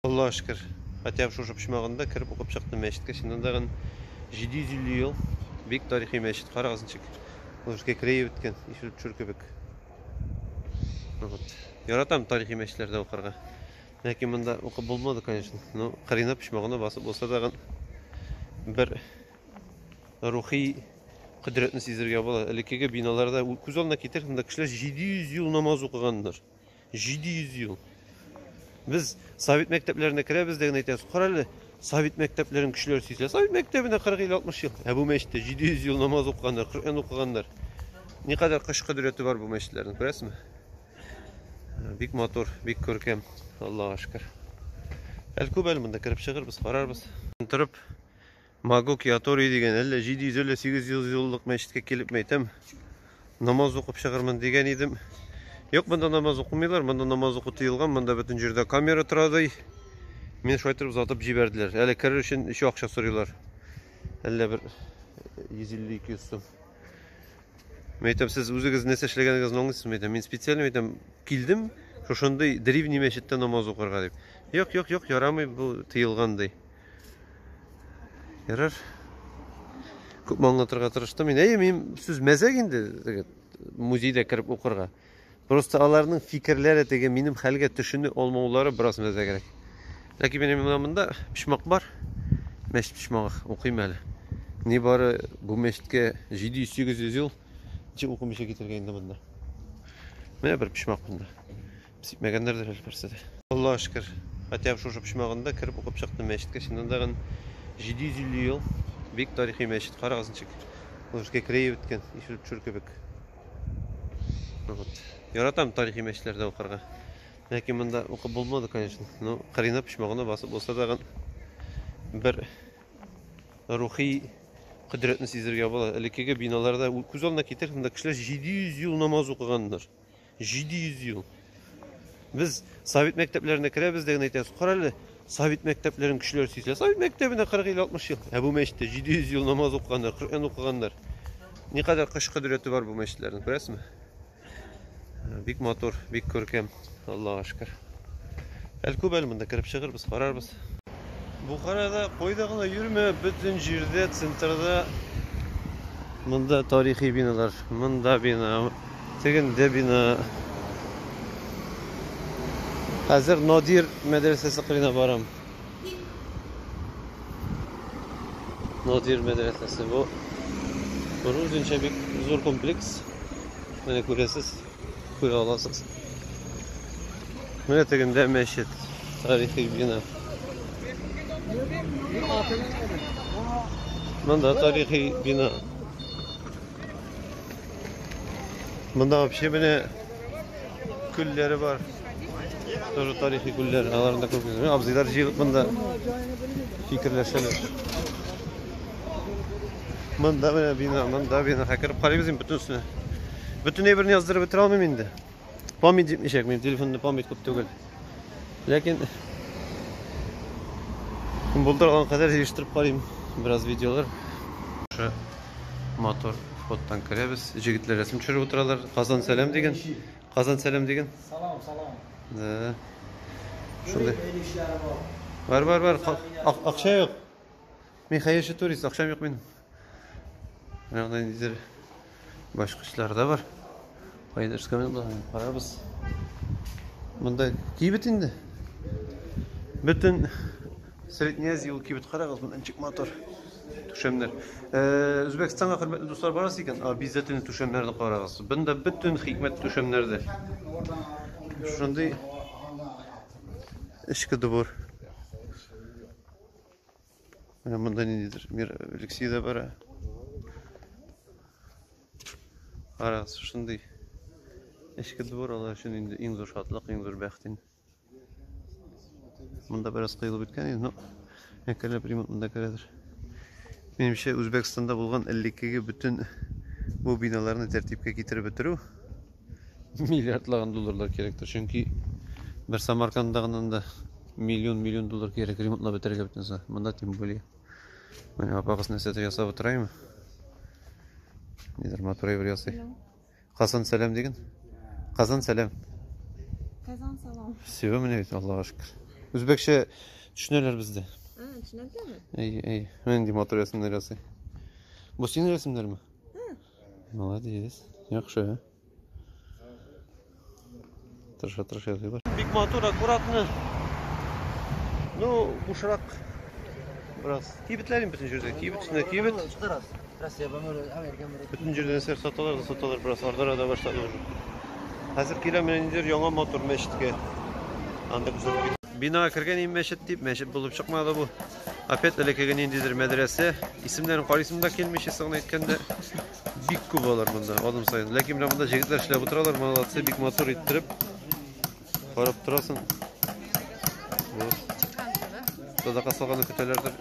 Аллага шөкер, хәтәб шушы почмагында кереп укып чыктым мәчеткә, чыннан да гын 750 ел бик тарихи мәчет, карагыз ничек Лужский крей беткән, ишел төшер кебек. Вот. Яратам тарихи мәчетләрдә укырга. Ләкин монда укып булмады, конечно. Но Карина почмагына басып булса да гын бер рухи кодрәтне сизергә була. Элеккеге биналарда күз алдына китерсәң, монда кешеләр 700 ел намаз укыганнар. 700 ел. Без совет мәктәпләренә керәбез дә генә әйтәбез, кара әле, совет мәктәпләрен кешеләр сөйсә, совет мәктәбенә 40-50-60 ел. Ә бу мәчеттә 700 ел намаз укыганнар, Коръән укыганнар. Никадәр кыш кодрәте бар бу мәчетләрнең, күрәсезме? Бик матур, бик күркәм. Аллаһуа шөкер. Әле күп әле монда кереп чыгырбыз, карарбыз. Торып Магук Ятори дигән әллә 700 әллә 800 юллык мәчеткә килеп мәйтәм. Намаз укып чыгырмын дигән идем. Юк, монда намаз укымыйлар, монда намаз уку тыелган, монда бөтен җирдә камера тора ди. Мин шулай торып затып җибәрделәр. Әле керер өчен еще акча сорыйлар. Әллә бер 150-200 сум. Мәйтәм, сез үзегез нәрсә эшләгәнегезне аңлыйсызмы? Мәйтәм, мин специаль мәйтәм, килдем, шушындый древний мәчеттә намаз укырга дип. Юк, юк, юк, ярамый, бу тыелган ди. Ярар. Күп аңлатырга тырыштым. Мин әйе, мин сүз мәзәк инде, дигән музейда кереп укырга. Просто аларның фикерләре теге минем хәлгә төшенү алмаулары бераз мәзәгрәк. Ләкин минем менә монда почмак бар. Мәчет почмагы укыйм әле. Ни бары бу мәчеткә 700-800 ел ничек укымыйча китергән инде монда. Менә бер почмак монда. Сипмәгәннәрдер әле берсе дә. Аллага шөкер, хәтәм шушы почмагында кереп укып чыктым мәчеткә. Чыннан да 750 ел бик тарихи мәчет. Карагыз ничек. Ул эшкә крее беткән, ишел төшер кебек. Вот. Яратам тарихи мәчетләрдә укырга. Ләкин монда укып булмады, конечно. Но кырына почмагына басып булса да бер рухи кодрәтне сизергә була. Элеккеге биналарда күз алдына китер, монда кешеләр 700 ел намаз укыганнар. 700 ел. Без совет мәктәпләренә керәбез дә генә әйтәбез, карале, совет мәктәпләрен кешеләр сөйсә, совет мәктәбенә 40 ел, 60 ел. Ә бу мәчеттә 700 ел намаз укыганнар, Коръән укыганнар. Никадәр кыш кодрәте бар бу мәчетләрнең, күрәсезме? Бик матур, бик күркәм. Аллаһу шөкер. Әле күп әле монда кереп чыгырбыз, карарбыз. Бухарада кайда гына йөрмә, бөтен җирдә, центрда монда тарихи биналар, монда бина, Тегендә бина. Хәзер Надир мәдрәсәсе кырына барам. Надир мәдрәсәсе бу. Бу үзенчә бик зур комплекс. Менә күрәсез, күрә аласыз. Менә тегендә мәчет, тарихи бина. Монда тарихи бина. Монда вообще менә күлләре бар. Тоже тарихи күлләр. Аларны да күргән. Абзыйлар җыелып монда фикерләшәләр. Монда менә бина, монда бина. Хәкереп карыйбыз инде бөтенесенә. Бөтен әйберне яздырып бетерә алмыйм инде. Память җитмичәк, минем телефонда память күп түгел. Ләкин булдырган кадәр җыештырып карыйм бераз видеолар. Шушы мотор фоттан керәбез. Җегетләр рәсем төшереп утыралар. Казан сәлам дигән. Казан сәлам дигән. Салам, салам. Да. Шундый. Бар, бар, бар. Акча юк. Мин хәерче турист, акчам юк минем. Ягъни нидер башкычлар да бар. Кайда эшкәме булган? Карабыз. Монда кибет инде. Бөтен Средняя Азия ул кибет карагыз, монда ничек матур. Түшәмнәр. Э, Үзбәкстанга хөрмәтле дуслар барасы икән, обязательно түшәмнәрне карагыз. Бында бөтен хикмәт түшәмнәрдә. Шундый эчке дубур. Менә монда ниндидер мир Алексей да бара. Карагыз, шундый эчке двор алар өчен инде иң зур шатлык, иң зур бәхет инде. Монда бераз кыелып беткән инде, но әкренләп ремонт монда керәдер. Минемчә, Үзбәкстанда булган элеккеге бөтен бу биналарны тәртипкә китереп бетерү миллиардлаган долларлар кирәктер. Чөнки бер Самарканда гына да миллион-миллион доллар кирәк ремонтлап бетерергә бөтенесе. Монда тем более. Менә апагыз нәрсәдер ясап утыраймы? Нидер матурай бер ясый. Казан сәлам диген. Казан сәлам. Казан салам. Все, менә бит Аллага шөкер. Үзбәкчә төшенәләр бездә. А, төшенәләрме? Әй, әй. Менә нинди матур рәсемнәр ясый. Бу синең рәсемнәрме? Молодец. Яхшы. Тырыша тырыша язый бар. Бик матур, аккуратно. Ну, бушрак. Раз. Кибетләрен бөтен җирдә. Кибет өстенә кибет. Бөтен җирдә нәрсә саталар да саталар. Бераз ардара да башлады уже. Хәзер киләм менә инде яңа матур мәчеткә. Анда күзәтеп. Бинага кергән ин мәчет дип, мәчет булып чыкмады бу. Опять элекеге ниндидер мәдрәсә. Исемнәрен карыйсым да килми, честно гына әйткәндә. Бик күп алар монда, адым саен. Ләкин менә монда җегетләр эшләп утыралар, молодцы, бик матур иттереп. Карап торасың. Вот. Садака салганы көтәләрдер.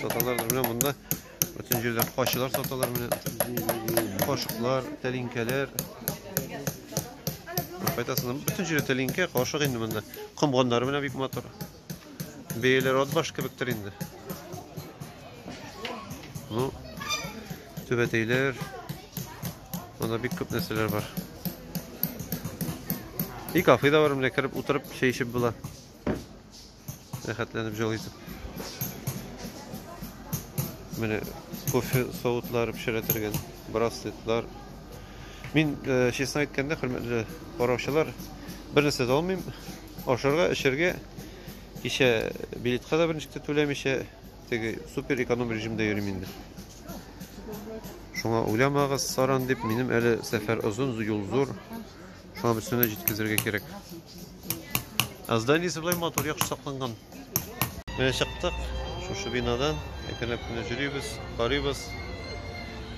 Саталардыр менә монда. Бөтен җирдән качылар саталар менә. Кашыклар, тәлинкәләр. Кайтасың, бөтен җирдә тәлинкә, кашык инде монда. Комганнары менә бик матур. Бейлер отбаш кебектер инде. Ну, түбәтейлер. Монда бик күп нәрсәләр бар. И кафе да бар, менә кереп утырып, чәй эчеп була. Рәхәтләнеп җол итеп. Менә кофе савытлары пешерәтергән, браслетлар. Мин, э, честно әйткәндә, хөрмәтле караучылар, бер нәрсә дә алмыйм. Ашарга, эчәргә кичә билетка да берничек тә түләмичә, теге супер эконом режимда йөрим инде. Шуңа уйламагыз, саран дип, минем әле сәфәр озын, юл зур. Шуңа бөтенләй җиткезергә кирәк. Аздан исеблай матур, яхшы сакланган. Менә чыктык шушы бинадан, әкренләп кенә йөрибез, карыйбыз.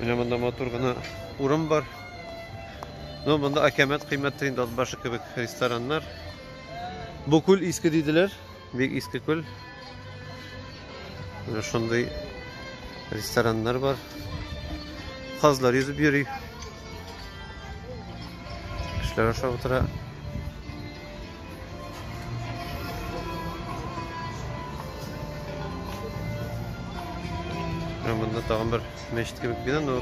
Менә монда матур гына урын бар. Ну, монда акәмәт кыйммәттер инде Атбашы кебек рестораннар. Бу күл иске диделәр, бик иске күл. Менә шундый рестораннар бар. Казлар йөзеп йөри. Кешеләр ашап утыра. Монда тагын бер мәчет кебек бина, но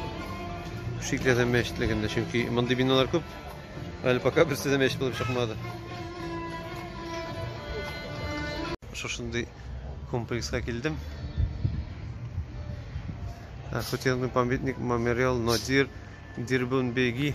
шикле дә мәчетлек инде, чөнки мондый биналар күп. Әле пока берсе дә мәчет булып чыкмады. Шушындый комплексқа килдем. Хотелный памятник мемориал Надир Дирбунбеги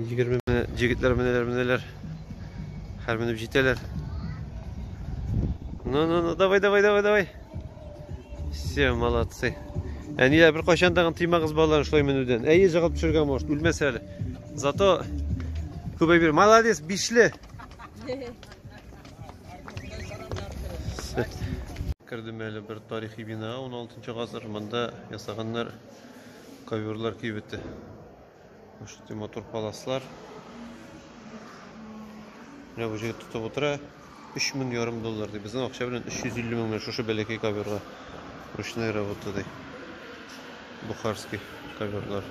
Егерме менә, егетләр менәләр, менәләр. Хәр менеп җитәләр. Ну, ну, ну, давай, давай, давай, давай. Все, молодцы. Әниләр, бер кайчан тагын тыймагыз балалар шулай менүдән. Әйе, җыгып төшергән может, үлмәс әле. Зато күбәй бир. Молодец, бишле. Кердем әле бер тарихи бина, 16 гасыр монда ясаганнар. Коверлар кибете. Шундый матур паласлар. Менә бу җегет тотып утыра. 3000 ярым доллар ди. Безнең акча белән 350 мең менә шушы бәләкәй коверга. Ручная работа ди. Бухарский коверлар.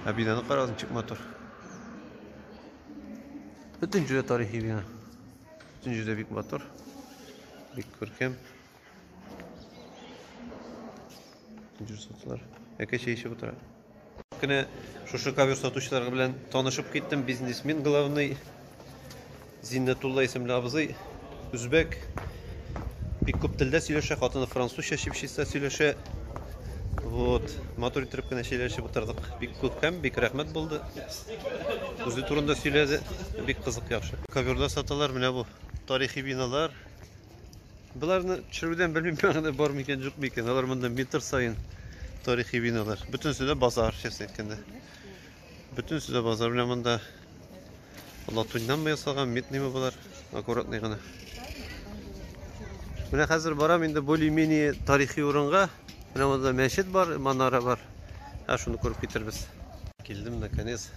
Ә бинаны карагыз, ничек матур. Бөтен җирдә тарихи бина. Бөтен җирдә бик матур. Бик күркәм. Җир сатылар. Әкә чәй эчеп утыра. Кенә шушы ковер сатучыларга белән танышып киттем. Бизнесмен главный Зиннәтулла исемле абзый үзбәк бик күп телдә сөйләшә, хатыны французча чипчиста сөйләшә. Вот, матур итеп кенә сөйләшеп утырдык. Бик күп һәм бик рәхмәт булды. Үзе турында сөйләде. Бик кызык яхшы. Коверлар саталар, менә бу тарихи биналар. Боларны төшерүдән белмим мәгънә бар микән, юк микән. Алар монда метр саен тарихи биналар. Бөтенесе дә базар, честно әйткәндә. Бөтенесе дә базар белән монда латуньнан мы ясалган, медныймы болар, аккуратный гына. Менә хәзер барам инде более-менее тарихи урынга. Менә монда мәчет бар, манара бар. Ә шуны күреп китербез. Килдем наконец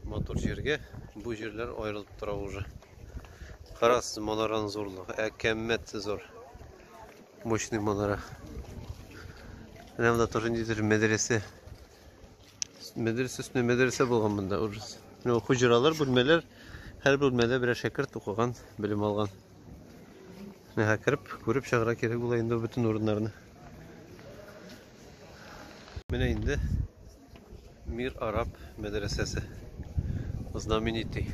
матур җиргә. Бу җирләр аерылып тора уже. Карас манаран зурлык, ә кәммәт зур. Мощный манара. Менә монда тоже ниндидер мәдрәсә. Мәдрәсә өстенә мәдрәсә булган монда ужас. Менә хуҗралар, бүлмәләр, һәр бүлмәдә берәр шәкерт укыган, белем алган. Менә кереп, күреп чыгарга кирәк була инде бөтен урыннарны. Менә инде Мир араб мәдрәсәсе. Знаменитый.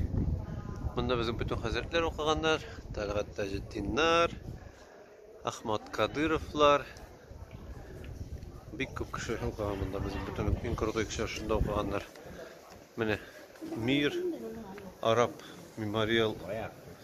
Монда безнең бөтен хәзрәтләр укыганнар. Тәлгать Таҗетдиннар, Ахмад Кадыровлар. Бик күп кеше укыган монда безнең бөтен иң крутой кешеләр шунда укыганнар. Менә Мир араб мемориал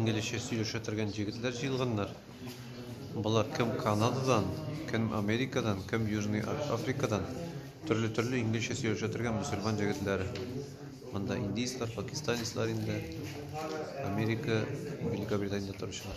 Инглизчә сөйләшә торган җегетләр җыелганнар. Болар кем Канададан, кем Америкадан, кем Южный Африкадан. Төрле-төрле инглизчә сөйләшә торган мусульман җегетләре. Монда индийцлар, пакистанецлар инде. Америка, Великобританиядә торучылар.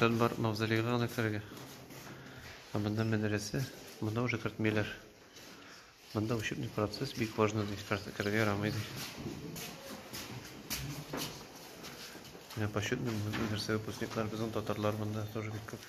Рөхсәт бар мавзолейга гына керергә. Ә монда мәдрәсә, монда уже кертмиләр. Монда учебный процесс бик важно ди, керергә ярамый ди. Менә почетный мәдрәсә выпускниклар, безнең татарлар монда тоже бик күп.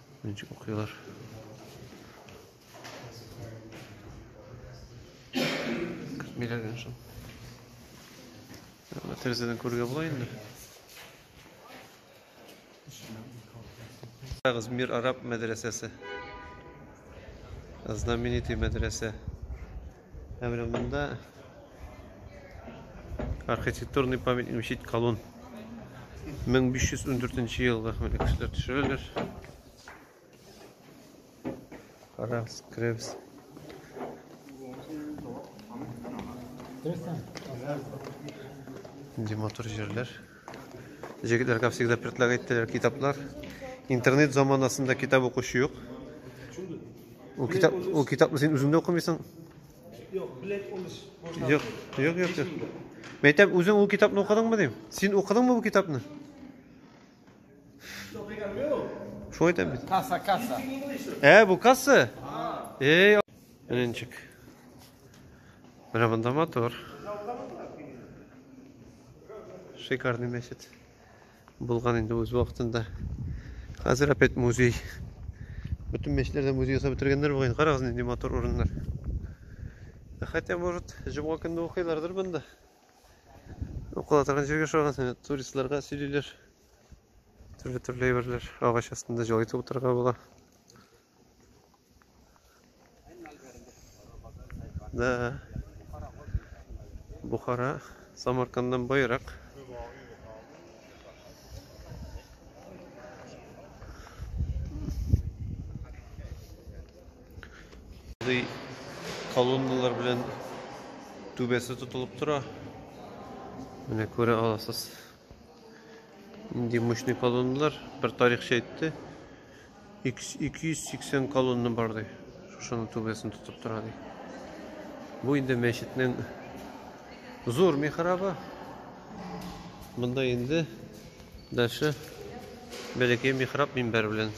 Ничек укыйлар? Көтмиләр генә шул. Менә тәрәзәдән күрергә була инде. Карагыз, Мир араб мәдрәсәсе. Знаменитый мәдрәсә. Ә менә монда архитектурный памятник мечеть Колун. 1514 елда менә кешеләр төшерәләр. Карагыз, керәбез. Нинди матур җирләр. Җегетләр, как всегда, предлагает теләр китаплар. Интернет заманасында китап укучы юк. Ул китап, ул китапны син үзеңдә укымыйсың? Юк, блядь, улыс. Юк, юк, юк. юк. Мәйтәм, үзең ул китапны укыдыңмы дим? Син укыдыңмы бу китапны? Шо әйтәм бит. Касса, касса. Ә, бу касса? Эй, Ренчик. Менә монда мотор. Шикарный мәчет булган инде үз вакытында. Хәзер опять музей. Бөтен мәчетләрдә музей ясап бетергәннәр бугай. Карагыз нинди матур урыннар. Хотя, может, җомга көнне укыйлардыр монда. Укыла торган җиргә шаган туристларга сөйлиләр. Төрле-төрле әйберләр агач астында җылайтып утырырга була. Да. Бухара Самарканддан байрак. Ди колонналар белән түбәсе тотылып тора. Менә күрә аласыз. Нинди мощный колонналар, бер тарихчы әйтте. 280 колонна бар ди. Шушының түбәсен тотып тора ди. Бу инде мәчетнең зур михрабы. Монда инде дальше бәләкәй михраб минбәр белән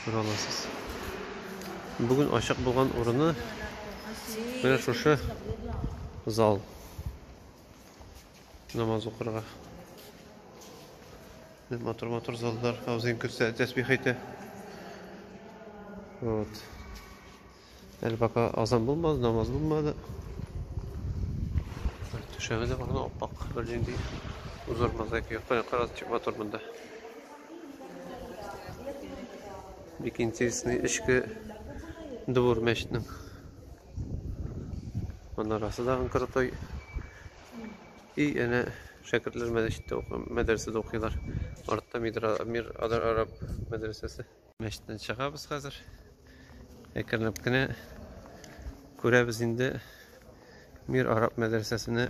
күрә аласыз. Бүген ачык булган урыны менә шушы зал. Намаз укырга. Матур матур заллар. Аузин күрсә тәсбих әйтә. Вот. Әле пока азан булмады, намаз булмады. Төшәме дә барган аппак. Бер җиндей узар мозаика юк. Кара кара чик матур монда. Бик интересный эчке двор мәчетнең. Манарасы да анкырытой. И әнә шәкертләр мәдәчиттә укый, мәдрәсәдә укыйлар. Артта мидра, мир адар араб мәдрәсәсе. Мәчеттән чыгабыз хәзер. Әкренләп кенә күрәбез инде мир араб мәдрәсәсенә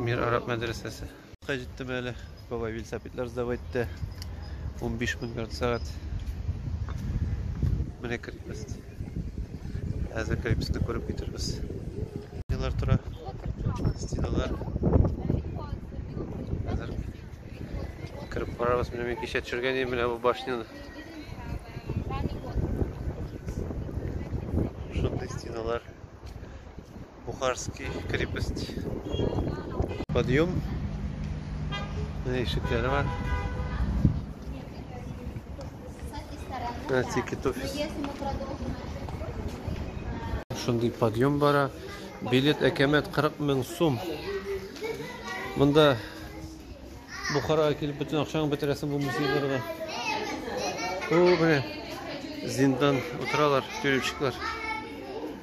Мир араб мәдрәсәсе. Кай җиттем әле. Бабай велосипедлар сдавай итте. 15 мең ярты сәгать. Менә кертмес. Әзер крепостны күреп китербез. Стеналар тора. Стеналар. Әзер кереп карарбыз. Менә мин кичә төшергән идем менә бу башняны. Шундый стеналар. Бухарский крепость. Подъем. Менә ишекләре бар. Менә тикет офис. Шундый подъем бара. Билет әкәмәт 40 мең сум. Монда Бухарага килеп бөтен акчаңны бетерәсең бу музейларга. Бу менә зиндан утыралар, тюремщиклар.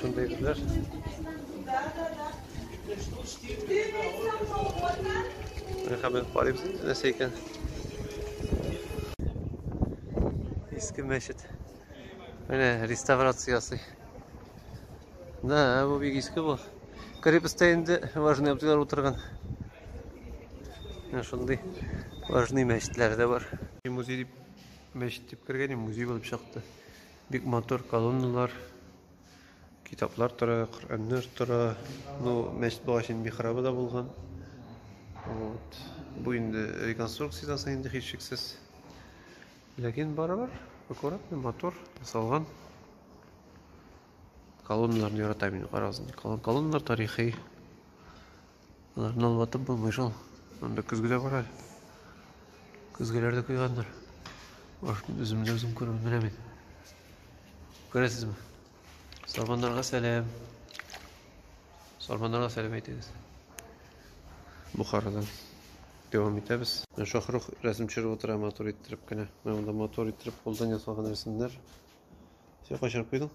Шундый гүзәл. Менә хәбәр карыйбыз инде нәрсә икән. Иске мәчет. Менә реставрация ясый. Да, бу бик иске бу. Крепостьтә инде важный абзыйлар утырган. Менә шундый важный мәчетләр дә бар. Музей дип мәчет дип кергән, музей булып чыкты. Бик матур колонналар, китаплар тора, Коръәннәр тора. Ну, мәчет багачының михрабы да булган. Вот. Бу инде реконструкциядән соң инде һичшиксез. Ләкин барыбер аккуратный, матур ясалган. Колонналарны яратам мин, карагыз инде. Колонналар тарихи. Аларны алматып булмый шул. Анда көзге дә бар әле. Көзгеләр дә куйгандыр. Үземне дә үзем күреп менә мин. Күрәсезме? Сарманнарга сәлам. Сарманнарга сәлам әйтегез. Бухарадан. Дәвам итәбез. Шахрух рәсем төшереп утыра матур иттереп кенә. Менә монда матур иттереп кулдан ясалган рәсемнәр. Все качырып куйдың?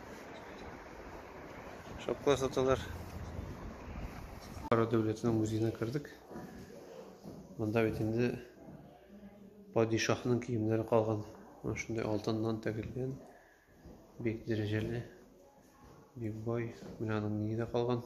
Шапкалар саталар. Кара дәүләтенең музеена кердек. Монда бит инде падишаһның киемнәре калган. Менә шундый алтыннан тәгелгән. Бик дәрәҗәле. Бик бай. Менә аның миңе дә калган.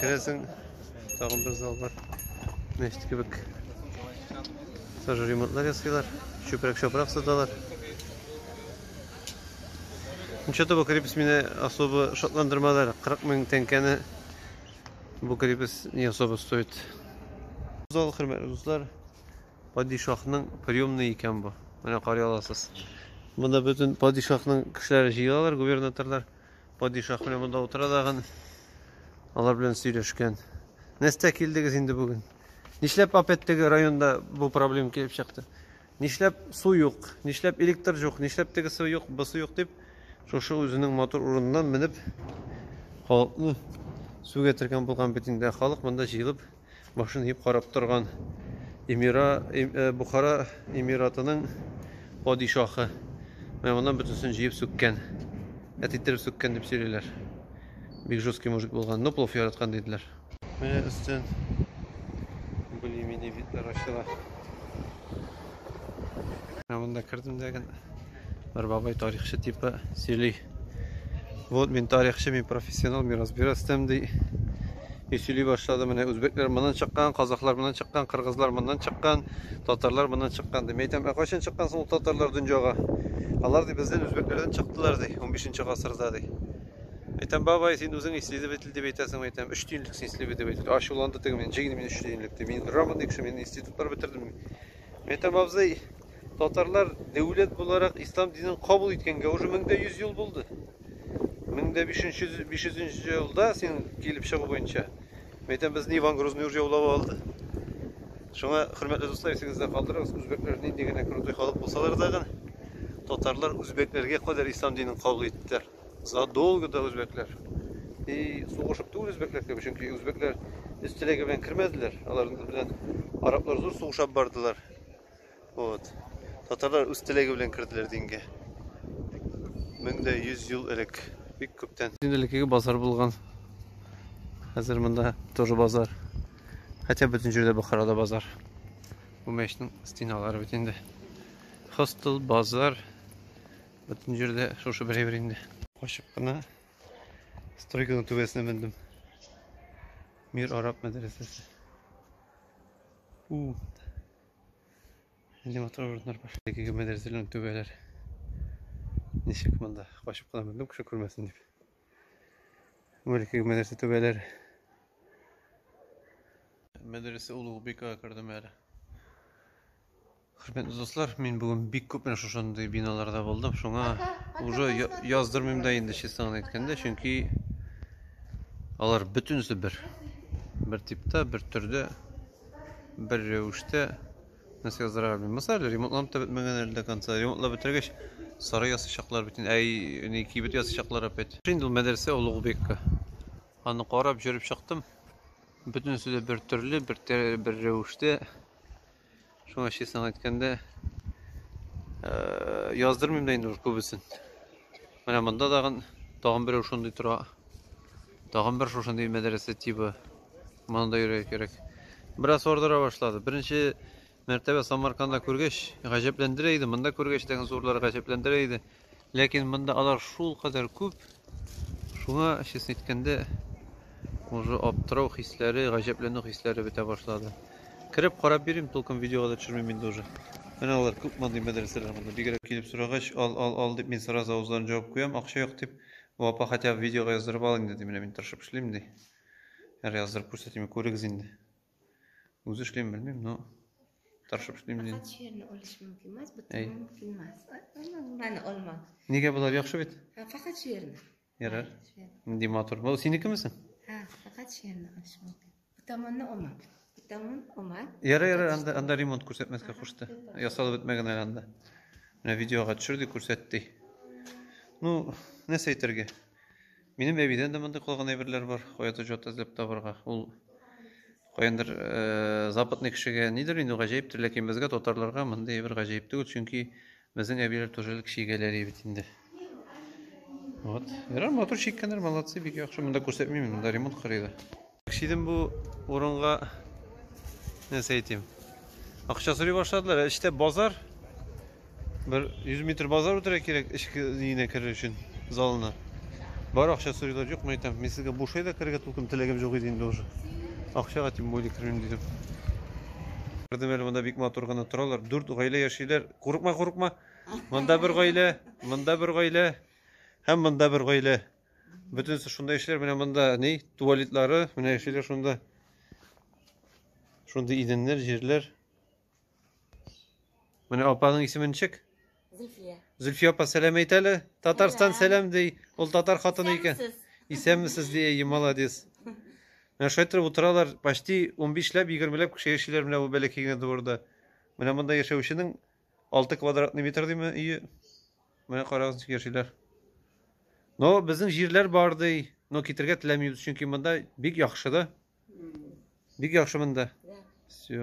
Керәсең, тагын бер зал бар. Мәчет кебек. Тоже ремонтлар ясыйлар. Чүпрәк-чапрак саталар. Ничәтә бу крепость мине особо шатландырмады. 40 мең тәңкәне бу крепость не особо стоит. Зал хөрмәтле дуслар, падишахның приемный икән бу. Менә карый аласыз. Монда бөтен падишахның кешеләре җыелалар, губернаторлар. Падишах белән монда утыра тагын. Алар белән сөйләшкән. Нәстә килдегез инде бүген. Нишләп опять теге районда бу проблем килеп чыкты? Нишләп су юк? Нишләп электр юк? Нишләп теге су юк, бу су юк дип шушы үзенең мотор урыныннан менеп халыкны сүгә тергән булган бит инде. Халык монда җыелып башын иеп карап торган эмира э, бухара эмиратының падишаһы менә моннан бөтенесен җыеп сүккән әт иттереп сүккән дип сөйлиләр бик жесткий мужик булган но плов яраткан диделәр менә өстен более менее битләр ачыла ә монда кердем дә Бер бабай тарихчы типа сөйли. Вот мин тарихчы, мин профессионал, мин разбираюсь там ди. И сөйли башлады менә үзбекләр моннан чыккан, казахлар моннан чыккан, кыргызлар моннан чыккан, татарлар моннан чыккан ди. Мин әйтәм, ә кайчан чыккан соң татарлар дөньяга? Алар ди бездән үзбекләрдән чыктылар ди, 15 гасырда ди. Әйтәм, бабай, син үзең исследователь дип әйтәсең, әйтәм, өч тиенлек син исследователь. Ачуланды теге мин, җигни мин өч тиенлек ди. Мин грамотный кеше, мин институтлар бетердем. Мәйтәм абзый, татарлар дәүләт буларак ислам динен кабул иткәнгә уже мең дә йөз ел булды. Мең дә биш йөзенче елда син килеп чыгу буенча, мәйтәм безне Иван Грозный уже яулап алды. Шуңа, хөрмәтле дуслар, исегездә калдырыгыз, үзбәкләр нинди генә крутой халык булсалар да гына, татарлар үзбәкләргә кадәр ислам динен кабул иттеләр. задолго до үзбәкләр. И сугышып түгел үзбәкләр кебек, чөнки үзбәкләр үз теләге белән кермәделәр. Алар белән араблар зур сугышып бардылар. Вот. Татарлар үз теләге белән керделәр дингә. 1100 ел элек. Бик күптән. Инделеге базар булган. Хәзер монда тоже базар. Хотя бөтен җирдә Бохарада базар. Бу мәчнең стеналары бит инде. Хостел, базар, Бөтен җирдә шушы бер әйбер инде. Качып кына стройканың түбәсенә мендем. Мир араб мәдрәсәсе. У. Нинди матур урыннар бар. Әлеге мәдрәсәләрнең түбәләре. Ничек монда? Качып кына мендем, кеше күрмәсен дип. Мөлкек мәдрәсә түбәләр. Мәдрәсә Улугбекага кердем әле. Хөрмәтле дуслар, мин бүген бик күп менә шушындый биналарда булдым. Шуңа уже яздырмыйм да инде, честно гына әйткәндә, чөнки алар бөтенесе бер. Бер типта, бер төрдә, бер рәвештә. Нәрсә яздырырга белмим. Мисал, ремонтланып та бетмәгән әле дә конца. Ремонтлап бетергәч, сары ясыйчаклар бөтен. Әй, ни кибет ясыйчаклар опять. Инде ул мәдрәсә олуг бекка. Аны карап җөреп чыктым. Бөтенесе дә бер төрле, бер бер рәвештә. Шуңа честно әйткәндә, яздырмыйм да инде күбесен. Менә монда тагын, тагын берәү шундый тора. Тагын бер шушындый мәдрәсә тибы. Моны да йөрергә кирәк. Бераз ардыра башлады. Беренче мәртәбә Самарканда күргәч, гаҗәпләндерә иде. Монда күргәч, тагын зурлар гаҗәпләндерә иде. Ләкин монда алар шул кадәр күп. Шуңа, честно әйткәндә, уже аптырау хисләре, гаҗәпләнү хисләре бетә башлады. Кереп карап йөрим, толком видеога да төшермим инде уже. Менә алар күп мондый мәдрәсәләр монда. Бигрәк килеп сорагач, ал, ал, ал дип мин сразу авызларын җавып куям, акча юк дип. Бу апа хотя бы видеога яздырып ал инде ди, менә мин тырышып эшлим ди. Әр яздырып күрсәтим, күрегез инде. Үзе эшлим белмим, но тырышып эшлим ди. Факат черный олыш мөмкин мас, бу мөмкин мас. Менә олма. Нигә болар яхшы бит? Факат черный. Ярар. Нинди матур. Бу синекеме соң? Ха, факат шигырьне ачып алды. Бу таманны ома. Бу таман ома. Ярар, ярар, анда анда ремонт күрсәтмәскә кушты. Ясалып бетмәгән әле анда. Менә видеога төшерде, күрсәтте. Ну, нәрсә әйтергә? Минем әбидән дә мондый калган әйберләр бар. Каядыр җот эзләп табарга. Ул Каяндыр э, западный кешегә нидер инде гаҗәептер, ләкин безгә татарларга мондый бер гаҗәеп түгел, чөнки безнең әбиләр тоже элек чигәләр бит инде. Вот. Ярар, мотор чиккәннәр, молодцы, бик яхшы. Монда күрсәтмим, монда ремонт карый да. Шидем бу урынга нәрсә әйтим? Акча сорый башладылар, ә эчтә базар. Бер 100 метр базар үтәргә кирәк эчке өенә керер өчен залына. Бар акча сорыйлар, юк мә әйтәм. Мин сезгә бушай да керергә тулкын теләгем юк иде инде уже. Акчага тем более кермим дидем. Күрдем әле монда бик матур гына торалар. Дүрт гаилә яшиләр. Курыкма, курыкма. Монда бер гаилә, монда бер гаилә һәм монда бер гаилә. Бөтенесе шунда яшиләр. Менә монда ни? Туалетлары, менә яшиләр шунда. Шундый идәннәр, җирләр. Менә апаның исеме ничек? Зөлфия. Зөлфия апа сәлам әйт әле. Татарстан сәлам ди. Ул татар хатыны икән. Исәнмесез ди, әйе, молодец. Менә шулай торып утыралар, почти 15 ләп, 20 ләп кеше яшиләр менә бу бәләкәй генә дворда. Менә монда яшәүченең 6 квадратный метр диме өе. Менә карагыз ничек яшиләр. Но безнең җирләр бар ди, но китергә теләмибез, чөнки монда бик яхшы да. Бик яхшы монда. Все.